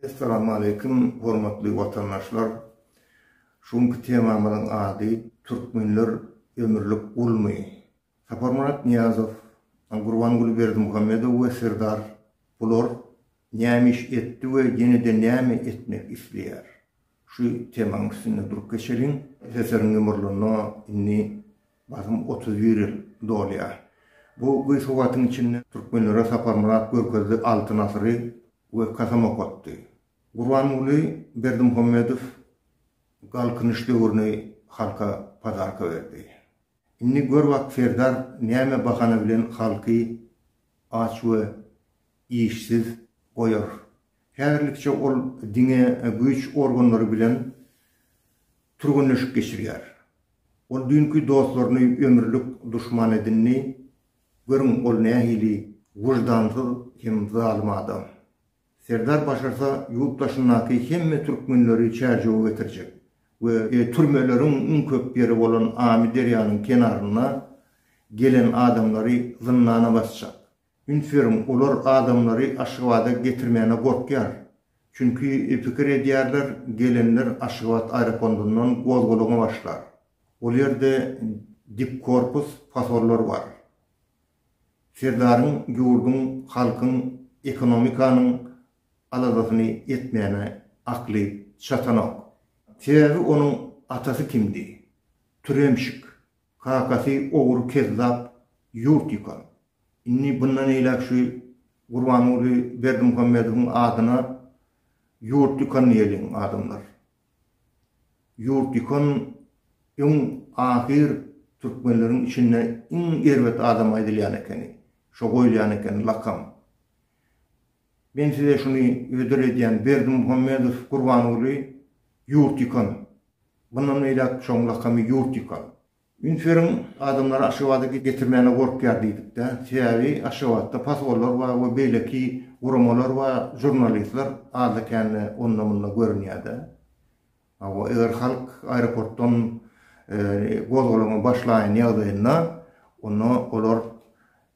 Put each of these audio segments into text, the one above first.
Essalamualeýkum, hormatly watandaşlar! Şu günki temamyzyň ady Türkmenler ömürlik gulmy? Saparmyrat Nyýazow, Gurbanguly Berdimuhamedow we Serdar bular näme iş etdi we ýene-de näme etmek isleýär? Şu temaň üstünde durup geçeliň. Seseriň ýumurlanda indi Basym otuz bir ýyl dolýar. Bu gyssywagtyň içinde türkmenlere Saparmyrat Görkezli Altyn asyry we kasam okatdy. Gurbanguly Berdimuhamedow Galkynyş döwrüni halka padarka berdi. Indi gör bak Serdar näme bahana bilen halky aç we işsiz goýar. Häzirlikçe ol diňe güýç organlary bilen Türgenleşik geçirýär. Ol düýnki dostlaryny ömürlik duşman edindi. Görüň, ol nähili wyždansyz hem zalym adam. Serdar başarsa, ýurt daşyndaky hemme türkmenleri çärjewe getirjek we türmeleriň iň köp ýeri bolan Amyderýanyň kenarynda gelen adamlary zyndana basjak. Üns beriň, olar adamlary Aşgabada getirmäne gorkýar. Çünki pikir edýärler, gelenler Aşgabat aeropondundan gozgalaňa başlar. Ol ýerde dipkorpus pasollar bar. Serdaryň ýurduň, halkyň, ekonomikanyň aladasyny etmäne akly çatanok. Sebäbi onuň atasy kimdi? Türemşik. Kakasy ogry kezzap ýurt ýykan. Indi bundan eýläk şu Gurbanguly Berdimuhamedowyň adyna ýurt ýykan diýeliň adamlar. Ýurt ýykan öň ahyr türkmenleriň içinde iň erbet adam aýdylýan ekeni. Şo goýulýan ekeni lakam. Men size şuny hödür edýän Berdimuhamedow Gurbanguly ýurt ýykan. Bundan beýläk şoň lakamy ýurt ýykan. Üns beriň adamlary Aşgabada getirmäne gorkýar diýdikdä. Sebäbi Aşgabatda pasgollar bar we beýleki guramalar bar, žurnalistler azda kände onda munda görünýädä. Hawa, eger halk aeroportdan gozgalaňa başlaýan ýagdaýynda, onda olar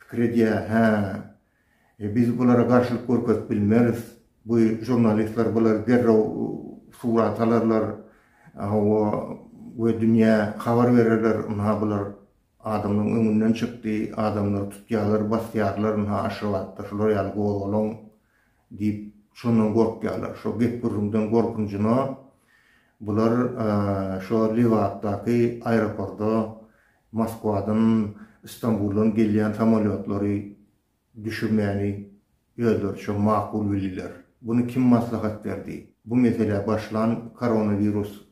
pikir edýär, hä, biz bulara garşylyk görkezip bilmeris, bu žurnalistler bulary derrew surata alarlar, hawa, we dünýä habar bererler, ynha, bular Adamlaň öňünden çykdy, adamlary tutýarlar, basýarlar, ynha Aşgabatda şular ýaly gozgalaň diýip, şondan gorkýarlar. Şo gep-gürrüňden gorkunjyna bular şo Lebapdaky aeroporda Moskwadan, Stambuldan gelýän samolýotlary Düşürmäni özleriçe makul bildiler. Buny kim maslahat berdi? Bu meselä başlan koronawirus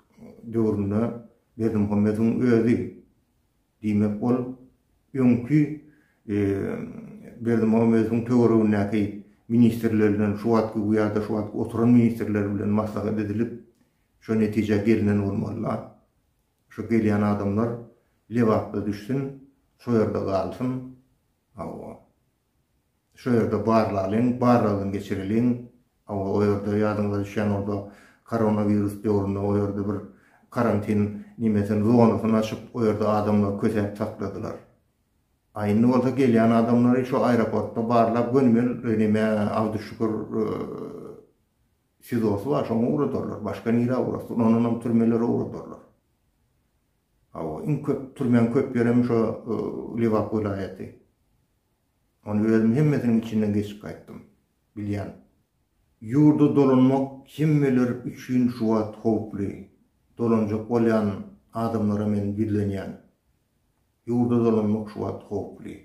döwründe Berdimuhamedowyň özi. Diýmek, ol öňki Berdimuhamedowyň töweregindäki ministrler bilen, şu wagtky bu ýa-da şu wagtky oturan ministrler bilen maslahat edilip, şu netijä gelinen bolmaly-la. Şu gelýän adamlar Lebapda düşsün, şo ýerde galsyn. Hawa. Şo ýerde barlalyň, barlagdan geçireliň. Hawa, o ýerde ýadyňyza düşýän bolsa, koronawirus döwründe o ýerde bir karantin nemesini, zonasyny açyp, o ýerde adamlary kösäp sakladylar. A indi bolsa gelýän adamlary şo aeroportda barlap gönümel neme Abduşşukur SIZO-sy bar, şoňa ugradarlar. Başga nirä ugrasyn? Ondanam türmelere ugradarlar. Hawa, iň köp türmäň köp ýeri hem şo Lebap welaýaty. Ony özüm hemmesiniň içinden geçip gaýtdym. Bilýän. Ýurda dolanmak hemmeler üçin şu wagt howply. Dolanjak bolýan adamlara men ýüzlenýän. Ýurda dolanmak şu wagt howply.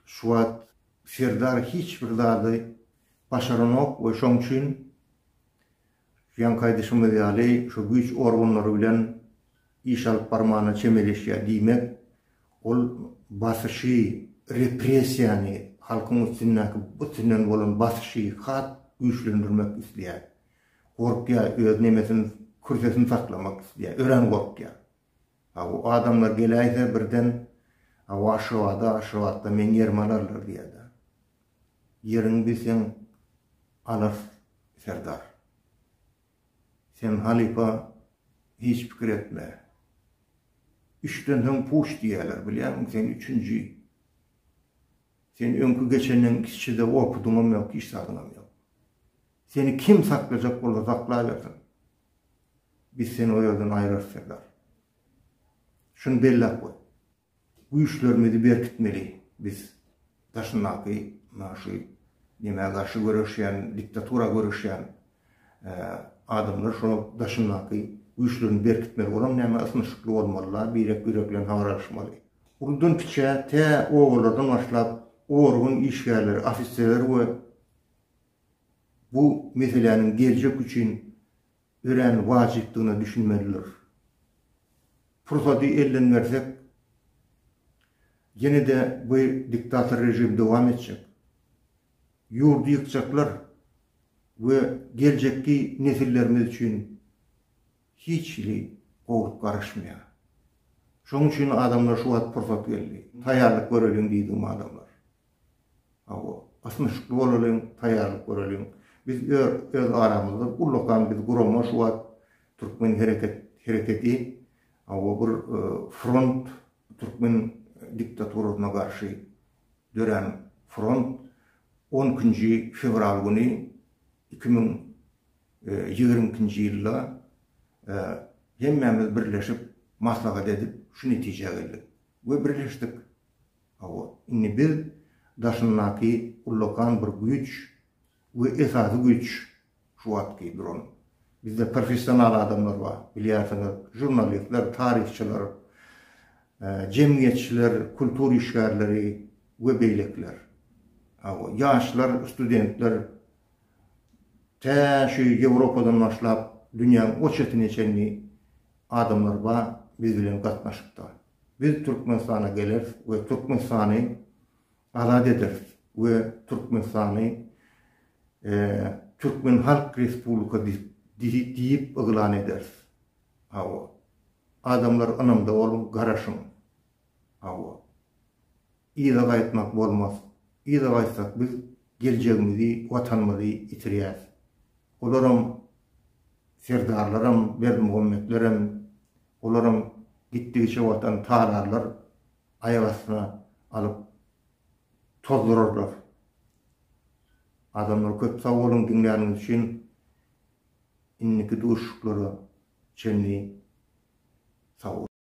Şu wagt Serdar hiç bir zady başaranok we şoň üçin Ýaňky aýdyşymyz ýaly, şu güýç organlary bilen iş alyp barmana çemeleşýär diýmek, ol basyşy, repressiýany, halkyň üstündäki üstünden bolan basyşy has güýçlendirmek isleýär. Gorkýar, öz nemesini, kürsesini saklamak isleýär, örän gorkýar. A bu adamlar geläýse birden Awa Aşgabada, Aşgabatda meň ýerimi alarlar diýerdi. Ýeriňi biz seň alarys serdar. Sen halypa hiç pikir etme. Üçden soň puç diýerler bilýärmiň sen üçünji. Sen öňki geçenden kiçide opudyňam ýok hiç zadyňam ýok. Seni kim saklajak bolsa saklaýbersin. Biz seni o ýerden aýrarys, serdar. Şuny belläp goý. Güýçlerimizi berkitmeli biz daşyndaky mundan şu nämä garşy göreşýän, diktatura göreşýän adamlar şo daşyndaky güýçlerini berkitmeli. Olam näme ysnyşykly bolmaly-la, birek-birek bilen habar alyşmaly. Uludan kiçä tä obalardan başlap organ işgärleri, ofiserler we bu meseläniň geljek üçin örän wajypdygyna düşünmelidir. Pursady elden bersek, ýene-de bu diktator režim dowam etjek. Ýurdy ýykjaklar we geljekki nesillerimiz üçin hiç hili gowulyk garaşmaýar. Şonuň üçin adamlar şu wagt pursat geldi, taýýarlyk göreliň diýdim adamlar. Hawa, ysnyşykly bolalyň, taýýarlyk göreliň. Biz öz aramyzda ullakan biz gurama şu wagt türkmen hereket hereketi hawa bir front türkmen diktaturasyna garşy dörän front on ikinji fewral güni iki müň ýigrimi ikinji ýylda hemmämiz birleşip maslahat edip şu netijä geldik we birleşdik. Hawa, indi biz daşyndaky ullakan bir güýç we esasy güýç şu wagtky duran. Bizde professional adamlar bar, bilýärsiňiz, žurnalistler, taryhçylar, jemgyýetçiler, kultur işgärleri we beýlekiler. Hawa, ýaşlar, studentler tä şu Ýewropadan başlap dünýäň o çetine çenli adamlar bar biz bilen gatnaşykda. Biz Türkmenistana geleris we Türkmenistany azat ederis we Türkmenistany Türkmen Halk Respublika diýip yglan ederis. Hawa. Adamlar ynamda boluň, garaşyň. Hawa. Yza gaýtmak bolmaz. Yza gaýtsak biz geljegimizi, watanymyzy ýitirýäs. Olaram serdarlaram, berdimuhammetlerem, olaram gitdigiçe watany talarlar, aýak astyna alyp tozdurarlar. Adamlar köp sag boluň diňläniňiz üçin. Indiki duşuşyklara çenli sag boluň.